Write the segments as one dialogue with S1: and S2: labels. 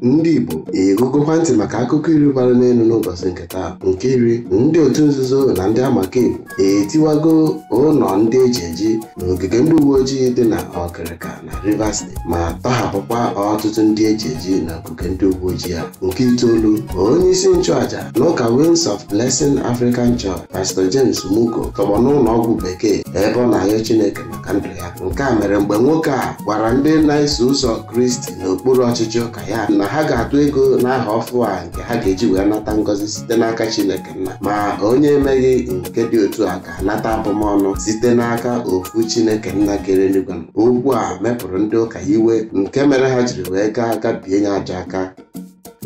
S1: ndị Igbo egegokwa ntị maka akụkọ iri bara n'elu n'ụbọchị nke taa nke iri ndị otu nzuzo na ndị amakaekwu etiwago ụlọ ndị eji eji n'ogige ndị uwe ojii dị na Ọkịrịka na Rivers Steeti ma tọhapụkwa ọtụtụ ndị eji eji na ogige ndị uwe ojii a nke itoolu onye isi nchụaja n'ụka Wings of Blessing African Church Pastor James Muko tọgbọ n'ụlọ ọgwụ bekee ebe ọ na-ayọ Chineke maka ndụ ya nke a mere mgbe nwoke a gwara ndị na-eso ụzọ Kristi n'okpuru ọchịchị ụka ya na ha ga-atụ ego n'ahọ ọfụ a nke ha ga-eji wee nata ngọzi site n'aka Chineke nna ma onye emeghị nke dị otu a ga-anata abụmọnụ site n'aka ofu Chineke nna kere eluigwe okwu a mepụrụ ndị ụka iwe nke mere ha jiri wee gaa gabie ya ajọ aka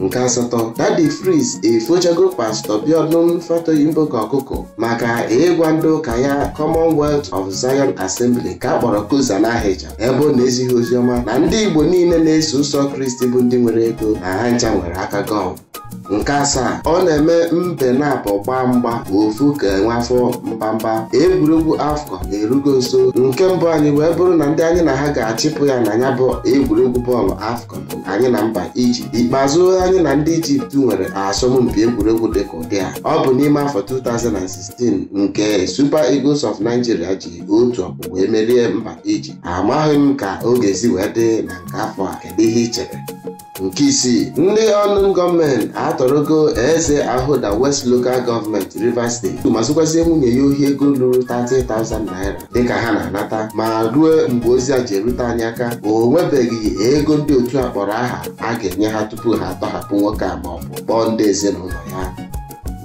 S1: nke asatọ Daddy Freeze efochago pastọ Biodun Fatoyinbo ka ọkụkọ maka ịgwa ndị ụka ya commonwealth of zion assembly ka a kpọrọ COZA na ahịja ebe ọ na-ezighị oziọma na ndị igbo niile na-eso ụzọ kristi bụ ndị nwere ego na ha ncha nwere aka gọm nke asaa ọ na-eme mbe naabọ gbaa mgba ofu ga-enwe afọ mbamba egwuregwu AFCON erugo nso nke mbụ anyị wee bụrụ na ndị anyị na ha ga-achịpụ ya na ya bụ egwuregwu bọọlụ AFCON anyị na mba Ijipt ikpeazụ anyị na ndị Ijipt nwere asọmpi egwuregwu dịka ụdị a ọ bụ n'ime afọ 2016 nke Super Eagles of Nigeria ji otu ọkpụ wee merie mba Ijipt amaghị m ka ọ ga-esi wee dị na nke afọ a kedu ihe i chere nke isii ndị unknown gunmen atọrọgo eze Ahoada West Local Government Rivers Steeti ma zukwazie nwunye ya ohi ego ruru 30,000 naira dịka ha na-anata ma ruo mgbe ozi a ji erute anyị aka o nwebeghị ego ndị otu a kpọrọ aha a ga-enye ha tupu ha atọhapụ nwoke a ma ọ bụ kpọọ ndị ezinụlọ ya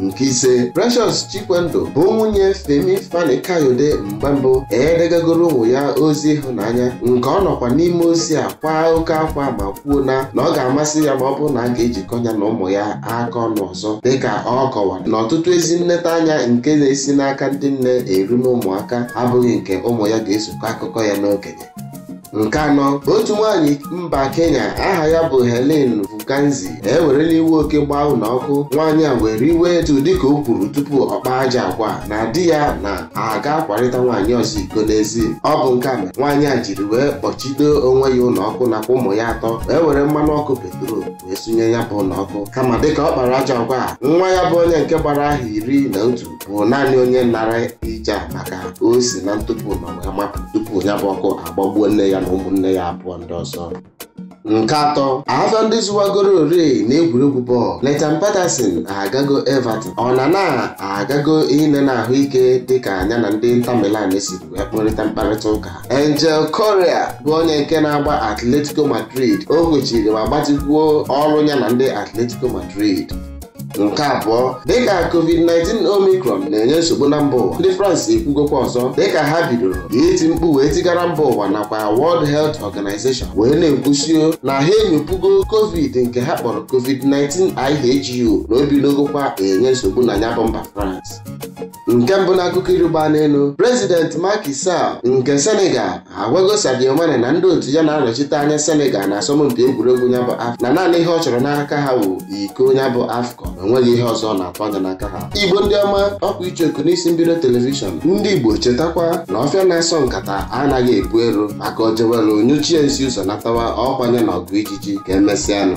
S1: nke ise Precious Chikwendu bụ nwunye Femi Fani Kayode mgbe mbụ edegagoro ụmụ ya ozi ịhụnanya nke ọ nọkwa n'ime ozi a kwaa oke akwa ma kwuo na na ọ ga-amasị ya ma ọ bụrụ na a ga-ejikọ ya na ụmụ ya aka ọnụ ọzọ dịka ọ kọwara na ọtụtụ ezi nletaanya nke na-esi n'aka ndị nne eru n'ụmụaka abụghị nke ụmụ ya ga-esokọ akụkọ ya n'okenye nke anọ otu nwaanyị mba Kenya aha ya bụ Helen Vukanzi ewerela iwe oke gbaa ụlọ ọkụ nwaanyị a were iwe etu dịka o kwuru tupu ọ kpaa ajọ agwa a na di ya na-aga akwarịta nwaanyị ọzọ iko n'ezi ọ bụ nke a mere nwaanyị a jiri wee kpọchido onwe ya ụlọ ọkụ nakwa ụmụ ya atọ wee were mmanụ ọkụ petrol wee sunye ya bụ ụlọ ọkụ kama dịka ọ kpara ajọ agwa a nwa ya bụ onye nke gbara ahọ iri na otu bụ naanị onye nanarị ihe a maka o si na ntupu ụlọ wee mapụ tupu ya bụ ọkụ agbagbuo nne ya na ụmụnne ya abụọ ndị ọzọ nke atọ afọ ndị zụwagoro ore na egwuregwu bọọlụ Nathan Patterson agago Everton Onana agago inene ahụike dịka ya na ndị Inter Milan siri wee kparịta mkparịta ụka Angel Correa bụ onye nke na-agba Atletico Madrid o kwechiri ma gbatikwuo ọrụ ya na ndị Atletico Madrid nke abụọ dịka covid-19 omicron na-enye nsogbu na mba ụwa ndị France ekwugokwa ọzọ dịka ha bidoro iti mkpu wee tigara mba ụwa nakwa World Health Organization wee na-ekwusio na ha enyopugo covid nke ha kpọrọ covid-19 IHU na o bidogokwa enye nsogbu na ya bụ mba France nke mbụ n'akụkọ iri gbaa n'elu prezident Macky Sall nke Senegal agwago Sadio Mane na ndị otu ya na-anọchite anya Senegal na asọmpi egwuregwu ya bụ AFCON na naanị ihe ọ chọrọ n'aka ha wụ iko ya bụ AFCON na o nweghị ihe ọzọ ọ na-atụ anya n'aka ha igbo ndị ọma ọkwa icheoku n'isi mbido telivishọn ndị igbo chetakwa na ọfịa na-asọ nkata anaghị epu ero maka ojewelu nyụchie nsị ụzọ natawa ọkwa nya na ọgụ ijiji ka emesịanụ